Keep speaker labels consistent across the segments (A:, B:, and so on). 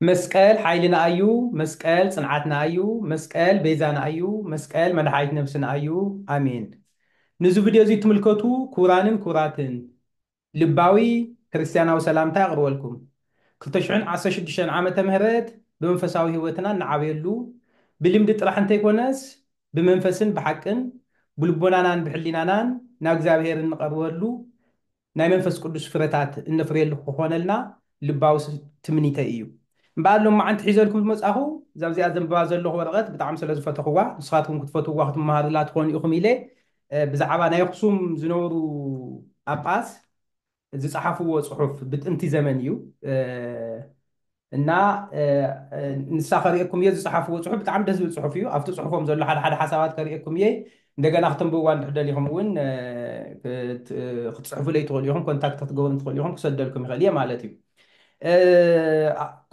A: መስቀል ሓይልና ኣዩ መስቀል ጽንዓትና ኣዩ መስቀል ቤዛና ኣዩ መስቀል መድሓኒት ነብስና ኣዩ ኣሜን ንዚ ቭድዮ እዚ ትምልከቱ ኩቡራንን ኩቡራትን ልባዊ ክርስትያናዊ ሰላምታይ ኣቅርበልኩም ክልተ ሽሕን ዓሰርተ ሽዱሽተን ዓመተ ምህረት ብመንፈሳዊ ሂወትና እንዓብየሉ ብልምዲ ጥራሕ እንተይኮነስ ብመንፈስን ብሓቅን ብልቦናናን ብሕሊናናን ናብ እግዚኣብሄር እንቀርበሉ ናይ መንፈስ ቅዱስ ፍረታት እነፍርየሉ ክኾነልና ልባዊ ትምኒተይ እዩ። እምበኣር ሎማዓንቲ ሒዘልኩም ዝመጻኹ እዛ ኣብዚኣ ዘንብባ ዘለኹ ወረቐት ብጣዕሚ ስለ ዝፈተኹዋ ንስኻትኩም ክትፈትዉዋ ክትመሃሩላ ትኾኑ ኢኹም ኢለ ብዛዕባ ናይ ኣኽሱም ዝነበሩ ጳጳስ ዝጸሓፍዎ ጽሑፍ ብጥንቲ ዘመን እዩ እና ንሳ ከርእየኩም እየ ዝፀሓፍዎ ፅሑፍ ብጣዕሚ ደስ ዝብል ፅሑፍ እዩ ኣብቲ ፅሑፎም ዘሎ ሓደ ሓደ ሓሳባት ከርእየኩም እየ እንደገና ክትንብብዋ እንድሕር ደሊኹም እውን ክትፅሕፉለይ ትኽእሉ ኢኹም ኮንታክት ክትገብሩ ትኽእሉ ኢኹም ክሰደልኩም ይኽእል እየ ማለት እዩ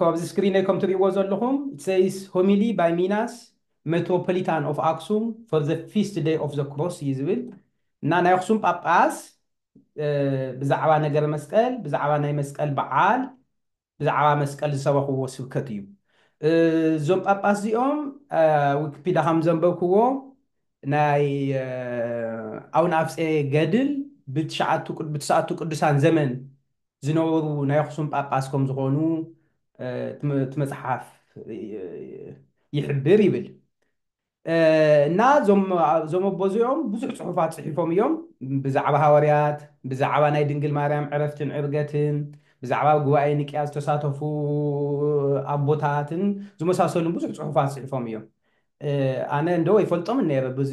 A: ካብዚ ስክሪነይ ከም ትርእይዎ ዘለኹም ሰይስ ሆሚሊ ባይ ሚናስ ሜትሮፖሊታን ኦፍ ኣክሱም ፎር ዘ ፊስት ደይ ኦፍ ዘ ክሮስ እዩ ዝብል እና ናይ ኣክሱም ጳጳስ ብዛዕባ ነገረ መስቀል ብዛዕባ ናይ መስቀል በዓል ብዛዕባ መስቀል ዝሰበኽዎ ስብከት እዩ። እዞም ጳጳስ እዚኦም ዊኪፒዳ ከም ዘንበብክዎ ናይ ኣቡነ ኣፍጼ ገድል ብትስዓቱ ቅዱሳን ዘመን ዝነበሩ ናይ ኣኽሱም ጳጳስ ከም ዝኾኑ እቲ መጽሓፍ ይሕብር ይብል። እና እዞም እዞም ኣቦ እዚኦም ብዙሕ ጽሑፋት ጽሒፎም እዮም ብዛዕባ ሃዋርያት ብዛዕባ ናይ ድንግል ማርያም ዕረፍትን ዕርገትን ብዛዕባ ጉባኤ ንቅያ ዝተሳተፉ ኣቦታትን ዝመሳሰሉን ብዙሕ ጽሑፋት ጽሒፎም እዮም ኣነ እንዶ ይፈልጦም ነይረ ብዙ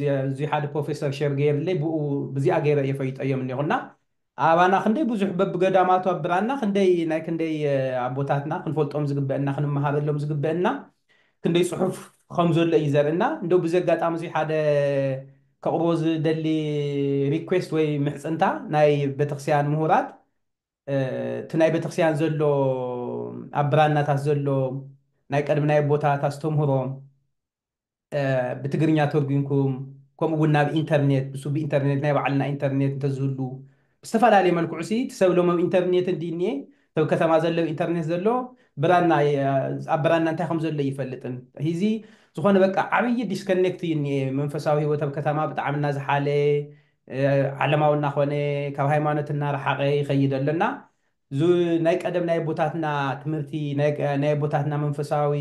A: ሓደ ፕሮፌሰር ሸር ገይርለይ ብኡ ብዚኣ ገይረ እየ ፈይጠዮም እኒኹና ኣባና ክንደይ ብዙሕ በብገዳማቱ ኣብ ብራና ክንደይ ናይ ክንደይ ኣቦታትና ክንፈልጦም ዝግበእና ክንመሃረሎም ዝግበእና ክንደይ ጽሑፍ ከም ዘሎ እዩ ዘርእና እንደው ብዚ ኣጋጣሚ እዚ ሓደ ከቕርቦ ዝደሊ ሪኩዌስት ወይ ምሕጽንታ ናይ ቤተክርስቲያን ምሁራት እቲ ናይ ቤተክርስቲያን ዘሎ ኣብ ብራናታት ዘሎ ናይ ቀድሚ ናይ ኣቦታት ኣስተምህሮ ብትግርኛ ተርጉምኩም ከምኡ ውን ናብ ኢንተርኔት ብስብ ኢንተርኔት ናይ ባዕልና ኢንተርኔት እንተዝህሉ ብዝተፈላለየ መልክዑ ሲ እቲ ሰብ ሎሚ ኣብ ኢንተርኔት እንድዩ እኒኤ እቲ ኣብ ከተማ ዘሎ ኣብ ኢንተርኔት ዘሎ ብራና ኣብ ብራና እንታይ ከም ዘሎ ኣይፈልጥን ሂዚ ዝኾነ በቃ ዓብዪ ዲስከኔክት እዩ እኒኤ መንፈሳዊ ህይወት ኣብ ከተማ ብጣዕሚ እናዝሓለ ዓለማዊ እናኾነ ካብ ሃይማኖት እናረሓቐ ይኸይድ ኣሎ እና እዚ ናይ ቀደም ናይ ኣቦታትና ትምህርቲ፣ ናይ ኣቦታትና መንፈሳዊ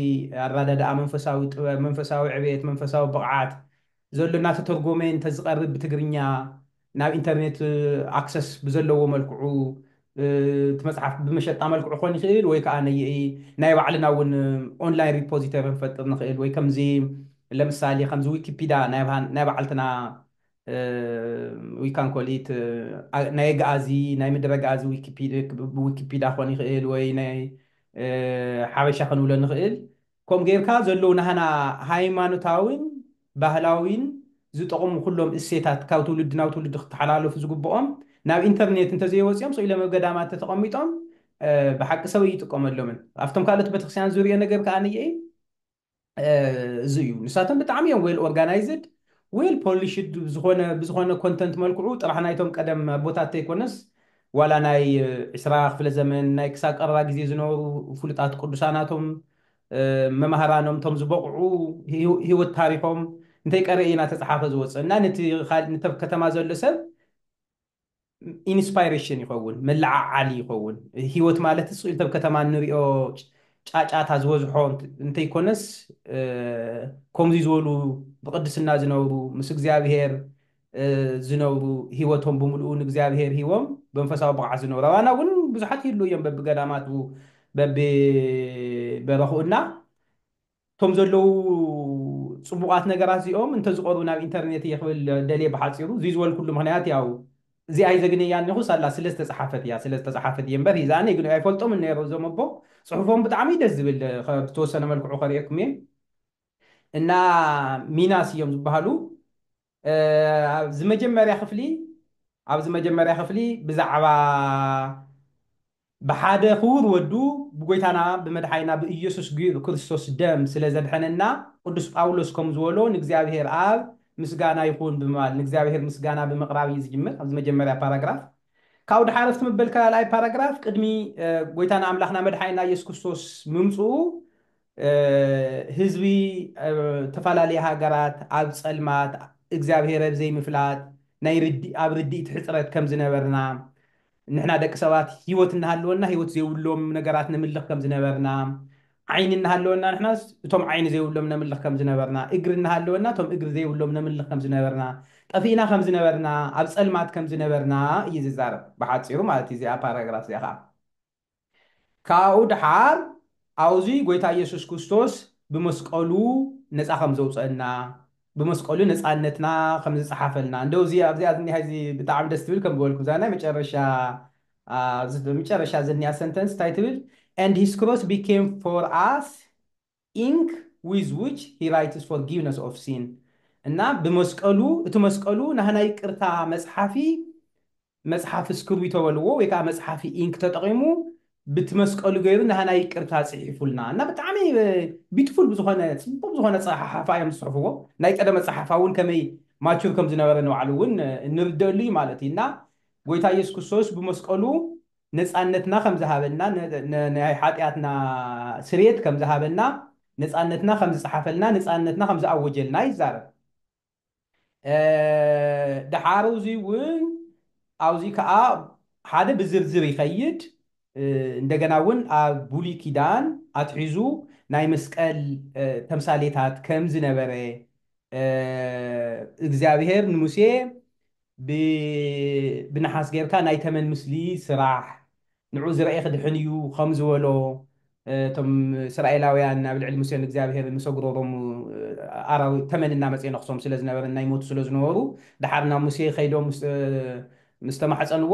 A: ኣራዳድኣ፣ መንፈሳዊ ጥበብ፣ መንፈሳዊ ዕቤት፣ መንፈሳዊ ብቕዓት ዘሎ እናተተርጎመ እንተዝቐርብ ብትግርኛ ናብ ኢንተርኔት ኣክሰስ ብዘለዎ መልክዑ እቲ መጽሓፍ ብመሸጣ መልክዑ ክኾን ይኽእል ወይ ከኣ ናይ ባዕልና እውን ኦንላይን ሪፖዚተሪ ክንፈጥር ንኽእል ወይ ከምዚ ለምሳሌ ከምዚ ዊኪፒዳ ናይ ባዕልትና ዊካን ኮሊት ናይ ኣግኣዚ ናይ ምድረ ኣግኣዚ ዊኪፒዳ ክኾን ይኽእል ወይ ናይ ሓበሻ ክንብሎ ንኽእል ከምኡ ጌርካ ዘለዉ ናህና ሃይማኖታዊን ባህላዊን ዝጠቕሙ ኩሎም እሴታት ካብ ትውልዲ ናብ ትውልዲ ክተሓላለፉ ዝግብኦም ናብ ኢንተርኔት እንተዘይወፂኦም ስቕ ኢሎም ኣብ ገዳማት ተተቐሚጦም ብሓቂ ሰብ ኣይጥቀመሎምን ኣብቶም ካልኦት ቤተክርስትያን ዝሪኦ ነገር ከኣ ንየኢ እዚ እዩ ንሳቶም ብጣዕሚ እዮም ዌል ኦርጋናይዝድ ዌል ፖሊሽድ ዝኾነ ብዝኾነ ኮንተንት መልክዑ ጥራሕ ናይቶም ቀደም ኣቦታት ተይኮነስ ዋላ ናይ ዕስራ ክፍለ ዘመን ናይ ክሳብ ቀረባ ግዜ ዝነበሩ ፍሉጣት ቅዱሳናቶም መማህራኖም እቶም ዝበቕዑ ህይወት ታሪኾም እንተይቀረየ ኢና ተፀሓፈ ዝወፅእ እና ነቲ ከተማ ዘሎ ሰብ ኢንስፓይሬሽን ይኸውን መለዓዓሊ ይኸውን ሂወት ማለት ስኢልቲ ኣብ ከተማ እንሪኦ ጫጫታ ዝበዝሖ እንተይኮነስ ኮምዙይ ዝበሉ ብቅድስና ዝነብሩ ምስ እግዚኣብሄር ዝነብሩ ሂወቶም ብምልኡ ንእግዚኣብሄር ሂቦም ብመንፈሳዊ ብቕዓት ዝነብሩ ኣባና እውን ብዙሓት ይህልው እዮም በቢገዳማቱ በቢበረኽኡ እና እቶም ዘለዉ ጽቡቓት ነገራት እዚኦም እንተዝቐርቡ ናብ ኢንተርኔት እየ ክብል ደልየ ብሓጺሩ እዚ ዝበልኩሉ ምኽንያት ያው እዚኣ ይዘግነያ እኒኹ ሳላ ስለ ዝተጻሓፈት እያ ስለ ዝተጻሓፈት እየ እምበር ሂዛ ኣነ ግን ኣይፈልጦምን ነይረ እዞም ኣቦ ጽሑፎም ብጣዕሚ እዩ ደስ ዝብል ብተወሰነ መልክዑ ከርእየኩም እየ እና ሚናስ እዮም ዝበሃሉ ኣብዚ መጀመርያ ክፍሊ ኣብዚ መጀመርያ ክፍሊ ብዛዕባ ብሓደ ክቡር ወዱ ብጎይታና ብመድሓኒና ብኢየሱስ ክርስቶስ ደም ስለ ዘድሐነና ቅዱስ ጳውሎስ ከም ዝበሎ ንእግዚኣብሔር ኣብ ምስጋና ይኹን ብምባል ንእግዚኣብሔር ምስጋና ብምቕራብ እዩ ዝጅምር ኣብዚ መጀመርያ ፓራግራፍ ካብኡ ድሓረፍቲ መበል ካልኣይ ፓራግራፍ ቅድሚ ጎይታና ኣምላኽና መድሓኒና ኢየሱስ ክርስቶስ ምምጽኡ ህዝቢ ተፈላለየ ሃገራት ኣብ ጸልማት እግዚኣብሔር ኣብ ዘይምፍላጥ ናይ ርዲ ኣብ ርዲኢት ሕጽረት ከም ዝነበርና ንሕና ደቂ ሰባት ህይወት እናሃለወና ህይወት ዘይብሎም ነገራት ነምልኽ ከም ዝነበርና ዓይኒ እናሃለወና ንሕናስ እቶም ዓይኒ ዘይብሎም ነምልኽ ከም ዝነበርና እግሪ እናሃለወና እቶም እግሪ ዘይብሎም ነምልኽ ከም ዝነበርና ጠፊእና ከም ዝነበርና ኣብ ጸልማት ከም ዝነበርና እዩ ዝዛረብ ብሓጺሩ ማለት እዩ እዚኣ ፓራግራፍ እዚኣ ከኣ ካብኡ ደሓር ኣውዙይ ጎይታ ኢየሱስ ኩስቶስ ብመስቀሉ ነጻ ከም ዘውጸእና ብመስቀሉ ነጻነትና ከም ዝጸሓፈልና እንደው እዚ ኣብዚኣ ዝኒሃ እዚ ብጣዕሚ ደስ ትብል ከም ዝበልኩ እዛ ናይ መጨረሻ ኣብዚ መጨረሻ ዝኒያ ሰንተንስ እንታይ ትብል and his cross became for us ኢንክ ዊዝ ዊች ሂ ራይትስ ፎርጊቭነስ ኦፍ ሲን እና ብመስቀሉ እቲ መስቀሉ ናህና ይቅርታ መጽሓፊ መጽሓፊ እስክርቢቶ በልዎ ወይ ከኣ መጽሓፊ ኢንክ ተጠቒሙ ብቲ መስቀሉ ገይሩ ናህና ይቅርታ ጽሒፉልና እና ብጣዕሚ ቢትፉል ብዝኾነ ጽቡቕ ብዝኾነ ጸሓሓፋ እዮም ዝጽሕፍዎ ናይ ቀደመ ጸሓፋ እውን ከመይ ማቹር ከም ዝነበረ ንባዕሉ እውን እንርደእሉ እዩ ማለት እዩ እና ጎይታ ኢየሱስ ክርስቶስ ብመስቀሉ ነጻነትና ከም ዝሃበና፣ ናይ ሓጢኣትና ስርየት ከም ዝሃበና፣ ነጻነትና ከም ዝጸሓፈልና፣ ነጻነትና ከም ዝኣወጀልና ይዛረብ። ደሓር እዙይ እውን ኣብዙይ ከዓ ሓደ ብዝርዝር ይኸይድ፣ እንደገና እውን ኣብ ብሉይ ኪዳን ኣትሒዙ ናይ መስቀል ተምሳሌታት ከም ዝነበረ፣ እግዚኣብሔር ንሙሴ ብ ብነሓስ ጌርካ ናይ ተመን ምስሊ ስራሕ ንዑ ዝረኤ ክድሕን እዩ ከም ዝበሎ እቶም እስራኤላውያን ኣብ ልዕሊ ሙሴን እግዚኣብሄርን ምስ ኣጉረሮም ኣራዊ ተመን እናመጸ ይነኽሶም ስለ ዝነበረን ናይ ሞቱ ስለ ዝነበሩ ደሓር ናብ ሙሴ ከይዶም ምስ ምስ ተማሕጸንዎ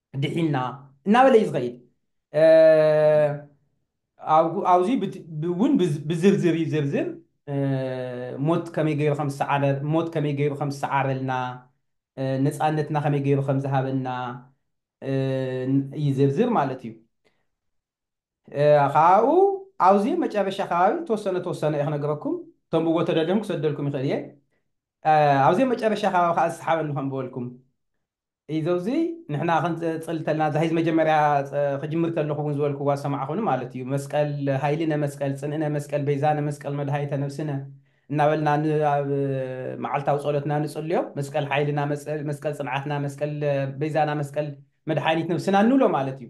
A: ድሒንና እናበለ እዩ ዝኸይድ። ኣብዙይ እውን ብዝርዝር ይዝርዝር ሞት ከመይ ገይሩ ከምዝሰዓረ ሞት ከመይ ገይሩ ከምዝሰዓረልና ነፃነትና ከመይ ገይሩ ከምዝሃበና ይዝርዝር ማለት እዩ ካብኡ ኣብዚ መጨረሻ ከባቢ ተወሰነ ተወሰነ እየ ክነግረኩም እቶም ብቦ ተደልዮም ክሰደልኩም ይኽእል እየ ኣብዚ መጨረሻ ከባቢ ከዓ ዝሰሓበኒ ከምበልኩም ኢዞ እዚ ንሕና ክንጽል ተልና እዛ ሒዝ መጀመርያ ክጅምር ከለኹ እውን ዝበልክዋ ዝሰማዕኹኒ ማለት እዩ መስቀል ሃይልነ መስቀል ጽንእነ መስቀል በይዛነ መስቀል መድሃኒተ ነብስነ እናበልና ን ኣብ መዓልታዊ ጸሎትና ንጽልዮ መስቀል ሓይልና መስቀል ጽንዓትና መስቀል በይዛና መስቀል መድሓኒት ነብስና እንብሎ ማለት እዩ።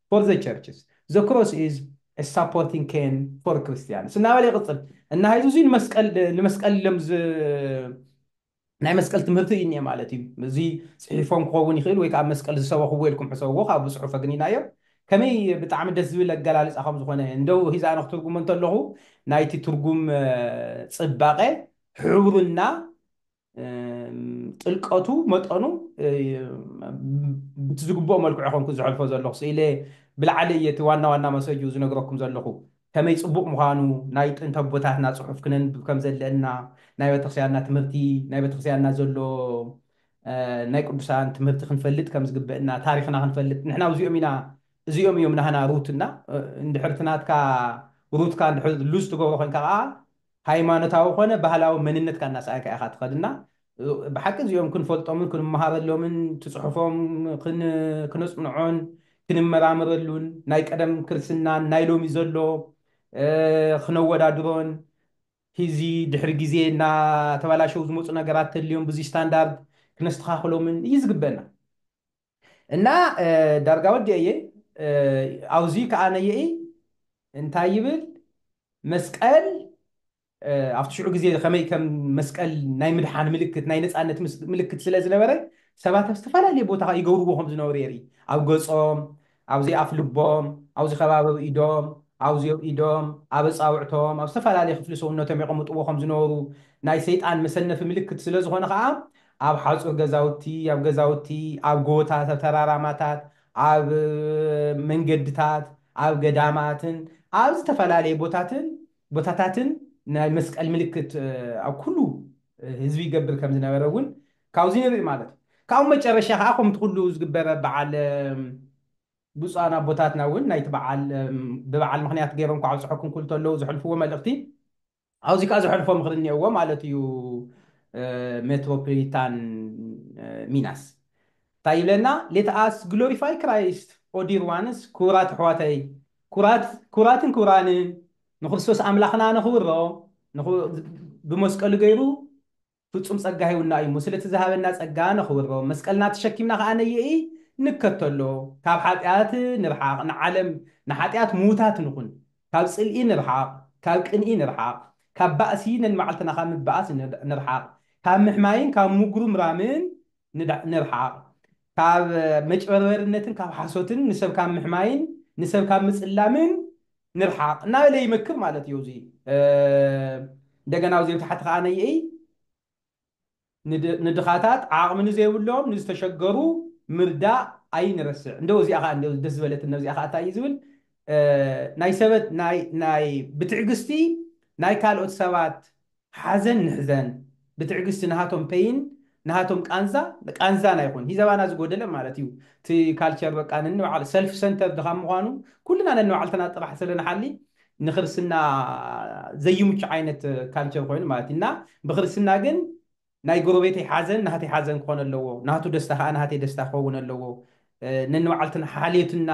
A: ፎር ዘ ቸርችስ፣ ዘ ክሮስ ኢዝ ኤ ሳፖርቲንግ ኬን ፎር ክርስትያንስ እናበለ ይቕጽል። እና ሐዚ እዙይ ንመስቀል ንመስቀል ኢሎም ዝ ናይ መስቀል ትምህርቲ እዩ እኒኤ ማለት እዩ። እዙይ ጽሒፎም ክኸውን ይኽእል ወይ ከዓ መስቀል ዝሰበኽዎ ኢልኩም ሕሰብዎ ካብ ብጽሑፍ ኣግኒናዮ። ከመይ ብጣዕሚ ደስ ዝብል ኣገላልጻ ከም ዝኾነ እንደው ሒዘ ኣነ ክትርጉሞ እንተለኹ ናይቲ ትርጉም ጽባቐ፣ ሕብሩ እና ጥልቀቱ መጠኑ ብቲ ዝግብኦ መልክዑ ኮንኩ ዝሐልፎ ዘለኹ ስኢለ ብላዕሊ እየ እቲ ዋና ዋና መሰጁ ዝነግረኩም ዘለኹ ከመይ ጽቡቕ ምዃኑ ናይ ጥንቲ ኣቦታትና ጽሑፍ ክነንብብ ከም ዘለእና ናይ ቤተክርስቲያንና ትምህርቲ ናይ ቤተክርስቲያንና ዘሎ ናይ ቅዱሳን ትምህርቲ ክንፈልጥ ከም ዝግበእና ታሪኽና ክንፈልጥ ንሕና እዚኦም ኢና እዚኦም እዮም ናህና ሩትና እንድሕርቲ ናትካ ሩትካ እንድሕር ሉዝ ትገብሮ ኮንካ ከዓ ሃይማኖታዊ ኮነ ባህላዊ መንነትካ እናሰኣእካ ኢኻ ትኸድ እና ብሓቂ እዚኦም ክንፈልጦምን ክንመሃረሎምን እቲ ጽሑፎም ክነጽንዖን ክንመራመረሉን ናይ ቀደም ክርስትናን ናይ ሎሚ ዘሎ ክነወዳድሮን ሂዚ ድሕሪ ግዜ እናተበላሸው ዝመጹ ነገራት ተልዮም ብዙይ ስታንዳርድ ክነስተኻኽሎምን እዩ ዝግበና። እና ዳርጋ ወዲኤዬ ኣውዙይ ከኣ ነይኢ እንታይ ይብል መስቀል ኣብቲ ሽዑ ግዜ ከመይ ከም መስቀል ናይ ምድሓን ምልክት ናይ ነጻነት ምልክት ስለ ዝነበረ ሰባት ኣብ ዝተፈላለየ ቦታ ይገብርዎ ከም ዝነበሩ የርኢ ኣብ ገጾም ኣብዚ ኣፍ ልቦም ኣብዚ ከባቢ ኣብ ኢዶም ኣብዚ ኣብ ኢዶም ኣብ ኣጻውዕቶም ኣብ ዝተፈላለየ ክፍሊ ሰውነቶም የቐምጥዎ ከም ዝነበሩ ናይ ሰይጣን መሰነፊ ምልክት ስለ ዝኾነ ከኣ ኣብ ሓጹር ገዛውቲ፣ ኣብ ገዛውቲ፣ ኣብ ጎቦታት፣ ኣብ ተራራማታት፣ ኣብ መንገድታት፣ ኣብ ገዳማትን ኣብ ዝተፈላለየ ቦታትን ቦታታትን ናይ መስቀል ምልክት ኣብ ኩሉ ህዝቢ ይገብር ከም ዝነበረ እውን ካብዚ ንርኢ ማለት እዩ። ካብኡ መጨረሻ ከኣ ከምቲ ኩሉ ዝግበረ በዓል ብጹኣን ኣቦታትና እውን ናይቲ በዓል ብበዓል ምኽንያት ገይሮም እንኳዕ ኣብጸሐኩም ክብሉ ተለዉ ዘሕልፍዎ መልእኽቲ ኣውዚ ከኣ ዘሕልፎ ምኽሪ እኔእዎ ማለት እዩ ሜትሮፕሊታን ሚናስ ታይ ይብለና ሌት ኣስ ግሎሪፋይ ክራይስት ኦ ዲር ዋንስ ክቡራት ኣሕዋተይ ክቡራት ክቡራትን ክቡራንን ንክርስቶስ ኣምላኽና ነኽብሮ ንኹ ብመስቀሉ ገይሩ ፍጹም ጸጋ ሂቡና እዩ እሞ ስለቲ ዝሃበና ጸጋ ነኽብሮ መስቀልና ተሸኪምና ከኣ ነይእይ ንከተሎ ካብ ሓጢኣት ንርሓቕ ንዓለም ንሓጢኣት ምዉታት ንኹን ካብ ጽልኢ ንርሓቕ ካብ ቅንኢ ንርሓቕ ካብ ባእሲ ነንመዓልትና ካብ ምባኣስ ንርሓቕ ካብ ምሕማይን ካብ ምጉርምራምን ንርሓቕ ካብ መጭበርበርነትን ካብ ሓሶትን ንሰብ ካብ ምሕማይን ንሰብ ካብ ምጽላምን ንርሓቕ እናበለ ይመክር ማለት እዩ። እዚ እንደገና ኣብዚ ታሕቲ ከዓ ነይእይ ንድኻታት ዓቕሚ ንዘይብሎም ንዝተሸገሩ ምርዳእ ኣይንረስዕ እንደው እዚኣ ከዓ እንደው ደስ ዝበለትን ነብዚኣ ከዓ እንታይ እዩ ዝብል ናይ ሰበት ናይ ናይ ብትዕግስቲ ናይ ካልኦት ሰባት ሓዘን ንሕዘን ብትዕግስቲ ናሃቶም ፐይን ናሃቶም ቃንዛ ቃንዛና ይኹን ሂዘባና ዝጎደለ ማለት እዩ እቲ ካልቸር በቃ ነንባዕሉ ሰልፍ ሰንተርድ ካብ ምዃኑ ኩልና ነንባዕልትና ጥራሕ ስለ ንሓሊ ንክርስትና ዘይምቹ ዓይነት ካልቸር ኮይኑ ማለት እዩ እና ብክርስትና ግን ናይ ጎረቤተይ ሓዘን ናህተይ ሓዘን ክኾን ኣለዎ፣ ናቱ ደስታ ከኣ ናህተይ ደስታ ክኸውን ኣለዎ፣ ነንባዕልትና ሓልዮትና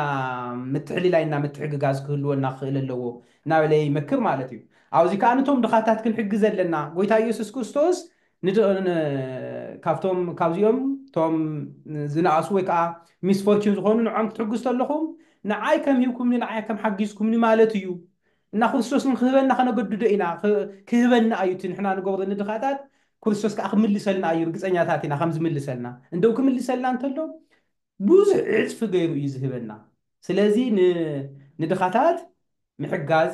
A: ምትሕልላይና ምትሕግጋዝ ክህልወና ክኽእል ኣለዎ እናበለ ይመክር ማለት እዩ። ኣብዚ ከኣ ንቶም ድኻታት ክንሕግዝ ኣለና። ጎይታ ኢየሱስ ክርስቶስ ካብቶም ካብዚኦም ቶም ዝነኣሱ ወይ ከኣ ሚስፎርችን ዝኾኑ ንዕኦም ክትሕግዙ ተለኹም ንዓይ ከም ሂብኩምኒ ንዓይ ከም ሓጊዝኩምኒ ማለት እዩ፣ እና ክርስቶስ ውን ክህበና ከነገድዶ ኢና ክህበና ኣዩ እቲ ንሕና ንገብሮ ንድኻታት ክርስቶስ ከኣ ክምልሰልና ኣዩ ርግጸኛታት ኢና ከም ዝምልሰልና እንደው ክምልሰልና እንተሎ ብዙሕ ዕጽፊ ገይሩ እዩ ዝህበና ስለዚ ንድኻታት ምሕጋዝ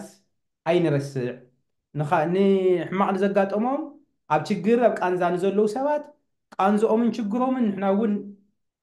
A: ኣይንረስዕ ንሕማቕ ንዘጋጠሞም ኣብ ችግር ኣብ ቃንዛ ንዘለዉ ሰባት ቃንዝኦምን ችግሮምን ንሕና ውን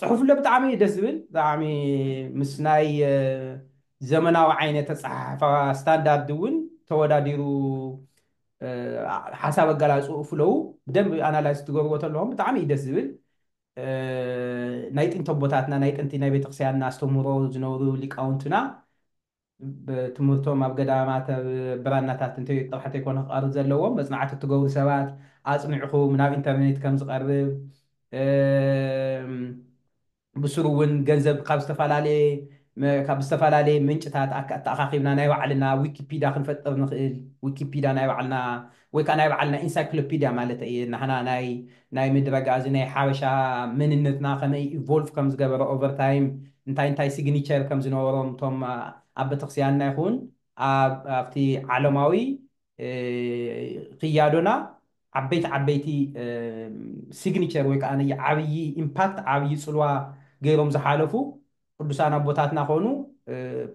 A: ፅሑፍለ ብጣዕሚ እዩ ደስ ዝብል ብጣዕሚ ምስ ናይ ዘመናዊ ዓይነት ኣፀሓሕፋ ስታንዳርድ እውን ተወዳዲሩ ሓሳብ ኣገላልፅኡ ፍለው ብደንብ ኣናላይዝ ትገብርዎ ተለኹም ብጣዕሚ እዩ ደስ ዝብል ናይ ጥንቲ ኣቦታትና ናይ ጥንቲ ናይ ቤተክርስትያንና ኣስተምህሮ ዝነበሩ ሊቃውንትና ትምህርቶም ኣብ ገዳማት ኣብ ብራናታት እንተ ጥራሕ እንተይኮነ ክቐርብ ዘለዎም መጽናዕቲ እትገብሩ ሰባት ኣጽኒዕኹም ናብ ኢንተርኔት ከም ዝቐርብ ብስሩ እውን ገንዘብ ካብ ዝተፈላለየ ካብ ዝተፈላለየ ምንጭታት ኣተኣኻኺብና ናይ ባዕልና ዊኪፒዳ ክንፈጥር ንኽእል ዊኪፒዳ ናይ ባዕልና ወይ ከኣ ናይ ባዕልና ኢንሳይክሎፒድያ ማለተይ እየ፣ ናህና ናይ ናይ ምድረጋ እዚ ናይ ሓበሻ መንነትና ከመይ ኢቮልቭ ከም ዝገበረ ኦቨር ታይም እንታይ እንታይ ሲግኒቸር ከም ዝነበሮም እቶም ኣብ ቤተክርስቲያንና ይኹን ኣብ ኣብቲ ዓለማዊ ክያዶና ዓበይቲ ዓበይቲ ሲግኒቸር ወይ ከኣ ዓብዪ ኢምፓክት ዓብዪ ጽልዋ ገይሮም ዝሓለፉ ቁዱሳን ኣቦታትና ኮኑ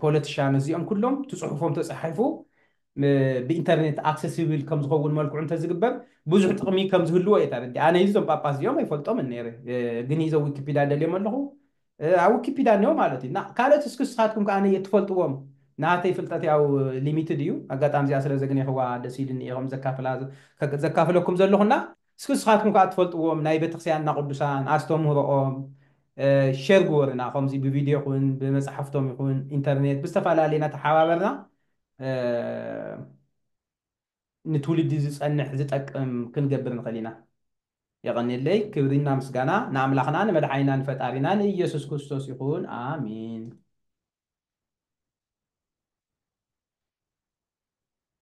A: ፖለትሻን እዚኦም ኩሎም ትጽሑፎም ተጻሒፉ ብኢንተርኔት ኣክሰሲብል ከም ዝኸውን መልክዑ እንተዝግበር ብዙሕ ጥቕሚ ከም ዝህልዎ እየ ተረዲኣ። ኣነ እዚ እዞም ጳጳስ እዚኦም ኣይፈልጦምን ነይረ ግን ሂዘ ዊኪፒዳ ደልዮም ኣለኹ ኣብ ዊኪፒዳ እኒኦ ማለት እዩ እና ካልኦት እስኪ ንስኻትኩም ከኣ ነየ እትፈልጥዎም ናተይ ፍልጠት ያው ሊሚትድ እዩ ኣጋጣሚ እዚኣ ስለ ዘግኔኽዋ ደስ ኢሉኒ እየ ከምኡ ዘካፍላ ዘካፍለኩም ዘለኹ እና እስኪ እስኻትኩም ካኣ ትፈልጥዎም ናይ ቤተክርስቲያንና ቅዱሳን ኣስተምህሮኦም ሸር ግበሩና ከምዚ ብቪድዮ ይኹን ብመጻሕፍቶም ይኹን ኢንተርኔት ብዝተፈላለየ ናተሓባበርና ንትውልዲ ዝጸንሕ ዝጠቅም ክንገብር ንኽእል ኢና። የቐኔለይ ክብሪና ምስጋና ንኣምላኽና ንመድሓኒና ንፈጣሪና ንኢየሱስ ክርስቶስ ይኹን ኣሜን።